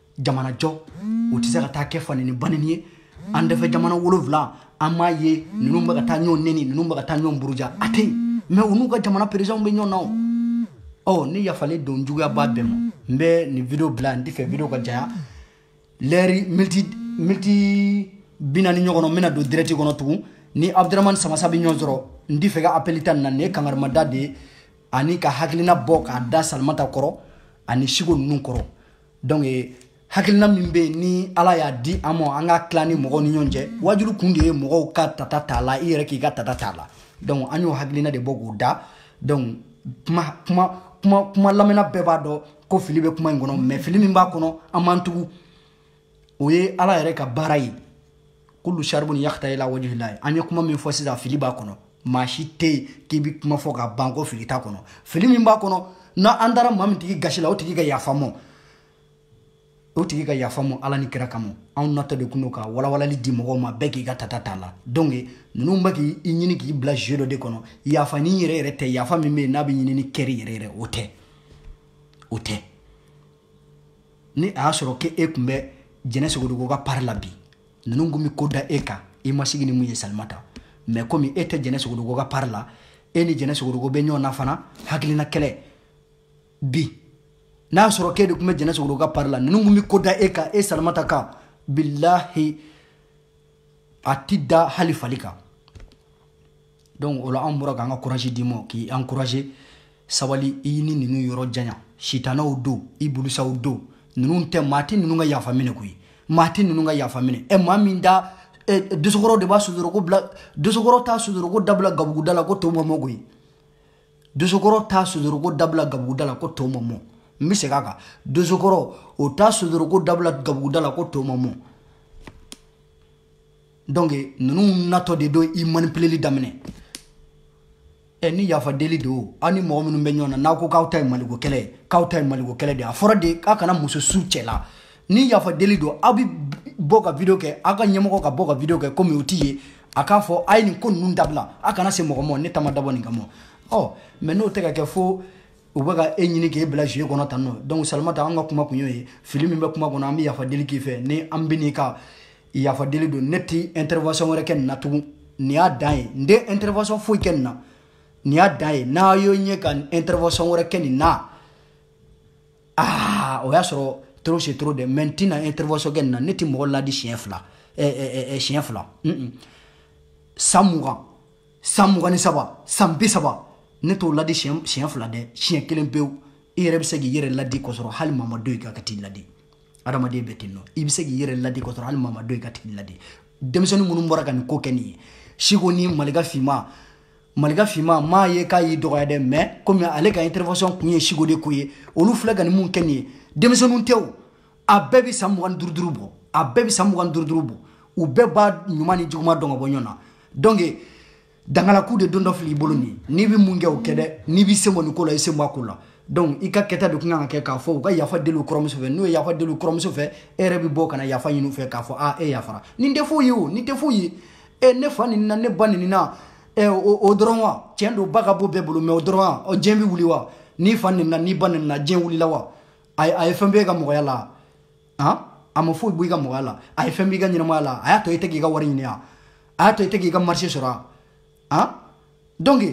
jamanajɔ o tɛ se ka taa kɛ faneni baneni ye an dɛfɛ jamana wolonwula an b'a ye ninnu bɛ ka taa ɲɔgɔn neni ninnu bɛ ka taa ɲɔgɔn buruja a tɛ yen mɛ u n'u ka jamana perezidanw bɛ ɲɔgɔn na o ɔ ne yafalen don juguya b'a bɛɛ ma n bɛ nin video bila n t'a fɛ video ka janya lɛri miniti miniti bi naani ɲɔgɔn n bɛna don dirɛti kɔnɔ tugun ni abudurahmani samasa bɛ ɲɔgɔn sɔrɔ n t'a fɛ ka apɛli ta nin na nin ye kangarimada de ye ani ka hakilina bɔ k'a da salimata kɔrɔ ani siko ninnu kɔrɔ donc eh, hakilina min bɛ yen ni ala y'a di an ma an ka tila ni mɔgɔw ni ɲɔgɔn cɛ waajulu kun de ye mɔgɔw ka tata t'a la i yɛrɛ k'i ka tata t'a la donc an y'o hakilina de bɔ k'o da donc kuma kuma kuma kuma lamɛnna bɛɛ b'a dɔn ko fili bɛ kuma in kɔnɔ mais fili min b'a kɔnɔ an m'an tugu o ye ala yɛrɛ ka baara ye kulu sharibun yakhta ila wajhillahi an ye kuma min fɔ sisan fili b'a kɔnɔ maa si tɛ yen k'i bɛ kuma fɔ ka ban ko fili t'a kɔnɔ fili min b'a kɔnɔ ni an taara maa min tigi gasi la o tigi ka yafa an ma o tigi ka yafa an ma ala ni kira kama anw natɔ de kun don ka walawalali di mɔgɔw ma bɛɛ k'i ka tata t'a la donc ninnu bɛ k'i ɲini k'i bila jeu dɔ de kɔnɔ yafa nin yɛrɛ yɛrɛ tɛ yafa min bɛ yen n'a bɛ ɲini ni cœur yɛrɛ yɛrɛ o tɛ o tɛ ni a y'a sɔrɔ ko e tun bɛ jɛnɛ sogodogo ka pari la bi ninnu tun bɛ ko da e kan i ma sigi ni mun ye salimata mɛ komi e tɛ jɛnɛ sogodogo ka pari la e ni jɛnɛ sogodogo bɛ ɲɔgɔn na fana hakilina kɛlɛ bi n'a y'a sɔrɔ k'e de tun bɛ jɛnɛ sogodogo ka pari la ninnu tun bɛ ko da e kan e salimata kan bilahi a ti da hali fali kan donc o la an bɔra k'an ka courage d'i ma k'i encourager sabali i ni ninnu yɔrɔ janya sitanaw don ibulusaw don ninnu tɛ maa tɛ ninnu ka yafa minɛ koyi maa tɛ ninnu ka yafa minɛ ɛ maa min da dosokɔrɔ de b'a sudoroko bila dosokɔrɔ t'a sudoroko dabila gabuguda la ko to ma mɔ koyi dosokɔrɔ t'a sudoroko dabila gabuguda la ko to ma mɔ n bɛ segin a kan dosokɔrɔ o t'a sudoroko dabila gabuguda la ko to ma mɔ donc ninnu natɔ de don i manipuleli daminɛ ɛ ni yafa deli don aw ni mɔgɔ minnu bɛ ɲɔgɔn na n'aw ko k'aw ta ye maliko kɛlɛ ye k'aw ta ye maliko kɛlɛ de ye a fɔra de k'a kana muso su cɛ la ni yafa deli don aw bɛ bɔ ka video kɛ aw ka ɲɛmɔgɔ ka bɔ ka video kɛ komi o t'i ye a k'a fɔ a ye nin ko ninnu dabila a kana se mɔgɔ ma ne ta ma dabɔ nin kama ɔ mɛ n'o tɛ ka kɛ fo u bɛ ka e ɲini k'e bila jeu kɔnɔ tan nɔ donc salimata an ka kuma kun y'o ye fili min bɛ kuma kɔnɔ an bɛ yafa deli k'i fɛ ni an bɛ n'i ka yafa deli don ne ti intervention wɛrɛ kɛ nin na tugun nin y'a dan ye n tɛ intervention foyi kɛ nin na nin y'a dan ye n'a y'o ye n ka intervention wɛrɛ kɛ nin na aa o y'a sɔrɔ trop c'est trop dɛ mɛ n tɛna intervention kɛ nin na ne ti mɔgɔ ladi siɲɛ fila eh, eh, eh, siɲɛ fila san mugan san mugan ni saba san bi saba ne t'o ladi siɲɛ fila dɛ siɲɛ kelen pewu i yɛrɛ bɛ se k'i yɛrɛ ladi k'a sɔrɔ hali maa ma don i kan ka t'i ladi adamaden bɛ ten nɔ i bɛ se k'i yɛrɛ ladi kɔ dɔrɔn hali maa ma dɔn i k'a tigi ladi denmisɛnnin minnu bɔra ka nin ko kɛ nin ye siko ni malika finma malika finma m'a ye k'a y'i dɔgɔya dɛ mais comme ale ka intervention kun ye siko de ko ye olu fila ka nin mun kɛ nin ye denmisɛnninw tɛ o a bɛɛ bɛ san mugan ni duuru duuru bɔ a bɛɛ bɛ san mugan ni duuru duuru bɔ u bɛɛ b'a ɲuman ni juguman dɔn ka bɔ ɲɔgɔn na donc dangalaku de don dɔ fili i bolo nin n'i bɛ mun kɛ o kɛ dɛ n'i b'i sen bɔ nin ko la i sen bɔ a ko la donc i ka kɛta de tun kan ka kɛ k'a fɔ u ka yafa deli u kɔrɔmuso fɛ n'u ye yafa deli u kɔrɔmuso fɛ e yɛrɛ bɛ bɔ ka na yafa ɲini u fɛ k'a fɔ a e yafara nin tɛ foyi ye o nin tɛ foyi ye e ne fa nɛnina ne ba nɛnina ɛ o dɔrɔn wa tiɲɛ don ba ka bon bɛɛ bolo mais o dɔrɔn wa ɔ diɲɛ bɛ wuli wa n'i fa nɛnina n'i ba nɛnina diɲɛ wulila wa a ye fɛn b'i ka mɔgɔya la han a ma foyi bɔ i ka mɔgɔya la a ye fɛn b'i ka ɲɛnamaya la a y'a to i tɛ k'i ka wari ɲini a a y'a to i tɛ k'i ka marché sɔrɔ a han donc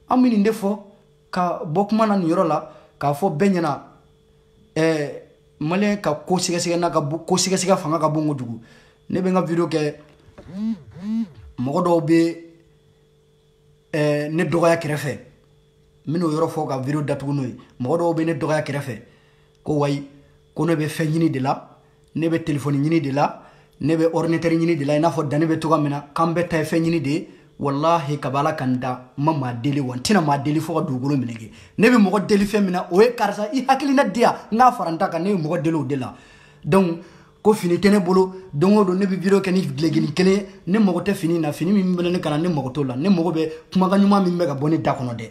an bɛ nin de fɔ ka bɔ kuma na nin yɔrɔ la k'a fɔ bɛɛ ɲɛna ɛɛ maliyɛn ka ko sɛgɛsɛgɛ n'a ka ko sɛgɛsɛgɛ fanga ka bon kojugu ne bɛ n ka video kɛ mɔgɔ dɔw bɛ ne dɔgɔya kɛrɛfɛ n bɛn'o yɔrɔ fɔ ka video datugu n'o ye mɔgɔ dɔw bɛ ne dɔgɔya kɛrɛfɛ ko wayi ko ne bɛ fɛn ɲini de la ne bɛ telefɔni ɲini de la ne bɛ ordinatɛri ɲini de la i n'a fɔ dani bɛ cogoya min na k'an bɛɛ ta ye fɛn ɲini de ye walahi kaba ala ka n da n ma maa deli wa n tɛna maa deli fo ka dugukolo melege ne bɛ mɔgɔ deli fɛn min na o ye karisa i hakilina di yan n k'a fara n ta kan ne ye mɔgɔ deli o de la donc ko fini tɛ ne bolo don o don ne bɛ video kɛ ni gilekini kelen ye ne mago tɛ fini na fini min bɛ ne kan na ne mago t'o la ne mago bɛ kumakan ɲuman min bɛ ka bɔ ne da kɔnɔ dɛ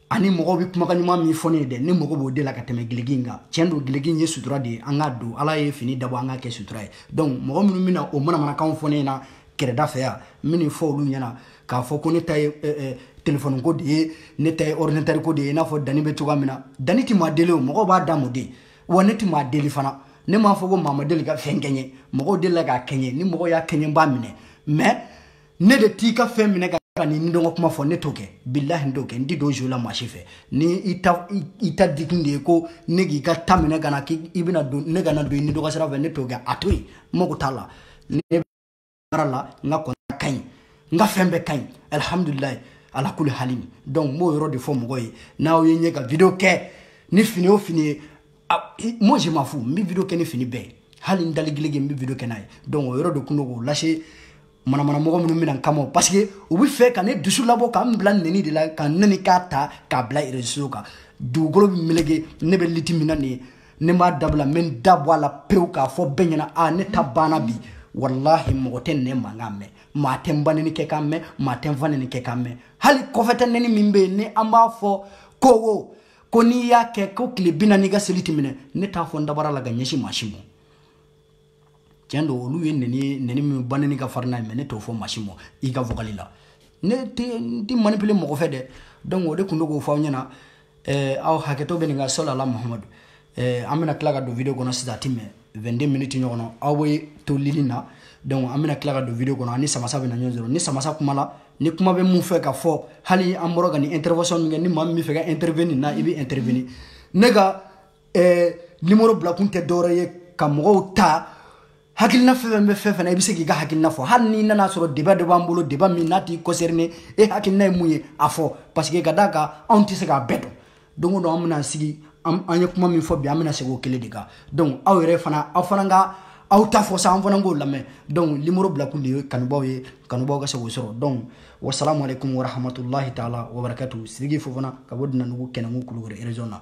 ani mɔgɔw bɛ kumakan ɲuman min fɔ ne ye dɛ ne mago b'o de la ka tɛmɛ gileki in kan tiɲɛ don gileki in ye sutura de ye an k'a don ala ye fini dabɔ an k'a kɛ sutura ye donc mɔgɔ minnu bɛna o manamanakanw fɔ ne ɲɛna kɛrɛda fɛ yan n bɛ nin fɔ olu ɲɛna k'a fɔ ko ne ta ye eh, eh, telefɔni ko de ye ne ta ye ordinatɛri ko de ye i n'a fɔ dani bɛ cogoya min na dani tɛ maa deli o mɔgɔw b'a d'a ma de wa ne tɛ maa deli fana ne m'a fɔ ko maa ma deli ka fɛn kɛ n ye mɔgɔw delila k'a kɛ n ye ni mɔgɔw y'a kɛ n ye n b'a minɛ mais ne de t'i ka fɛn minɛ ka ka nidungɔ kuma fɔ ne t'o kɛ bilahi n t'o kɛ n ti don jeu la maa si fɛ ni i ta i ta dikun de ye ko ne k'i ka ta minɛ ka na k'i bɛna don ne kana don i nidungɔ sira fɛ ne t'o kɛ a to yen n mago t'a la ne baara la n ka kɔnɔna ka ɲi n ka fɛn bɛɛ ka ɲi alihamudulilayi ala kuli halin donc n b'o yɔrɔ de fɔ mɔgɔ ye n'aw ye n ye ka video kɛ ni fini o fini ye moi je m'en fous n bɛ video kɛ ni fini bɛɛ ye hali n dali gilege n bɛ video kɛ n'a ye donc o yɔrɔ de kun don k'o lase manamanamɔgɔ minnu bɛna n kama parce que u bɛ fɛ ka ne dusu labɔ ka n bila nɛni de la ka nɛni k'a ta k'a bila réseau kan dugukolo bɛ melege ne bɛ lutte min na nin ye n'i m'a dabila n bɛ n da bɔ a la pewu k'a fɔ bɛɛ ɲɛna a ne ta banna bi walahi mɔgɔ tɛ ne mankan mɛn maa tɛ n ba nɛni kɛ kan mɛn maa tɛ n fa nɛni kɛ kan mɛn hali kɔfɛta nɛni min bɛ yen ni an b'a fɔ ko wo ko n'i y'a kɛ ko tile bi naani i ka seli tɛ minɛ ne t'a fɔ n dabara la ka ɲɛsin maa si ma tiɲɛ don olu ye neni neni min ba neni ka farin n'a ye mais ne t'o fɔ maa si ma i ka vocal la ne tɛ manipuler mɔgɔ fɛ dɛ donc o de tun bɛ k'o fɔ aw ɲɛna eh, aw hakɛto bɛ nin ka sɔli ala muhamadu eh, an bɛna tila ka don video kɔnɔ sisan a tɛ mɛɛn 22 minutes ɲɔgɔn na aw bɛ to ligne na donc an bɛna tila ka don video kɔnɔ ani samasa bɛna ɲɔgɔn sɔrɔ ni samasa kuma la ni kuma bɛ min fɛ ka fɔ hali an bɔra ka nin intervention min kɛ ni maa min bɛ fɛ ka intervenir na i bɛ intervenir ne ka ɛɛ numéro bilakun tɛ dɔwɛrɛ ye ka mɔgɔw ta hakilina fɛn fɛn bɛ fɛn fɛn na i bɛ se k'i ka hakilina fɔ hali n'i nana sɔrɔ débat dɔ b'an bolo débat min n'a t'i concerner e hakilina ye mun ye a fɔ parce que ka d'a kan anw tɛ se k'a bɛɛ dɔn don o don an bɛna sigi an ye kuma min fɔ bi an bɛna segin o kelen de kan donc aw yɛrɛ fana aw fana ka aw ta fɔ sa an fana k'o lamɛn donc numéro bilakun de ye kanubaaw ye kanubaaw ka se k'o sɔrɔ donc wasalamu aleykum warahmatulahi taala wabarakatu sidiki fofana ka bɔ dinandugu kɛnɛnkun kulukɔrɔ région na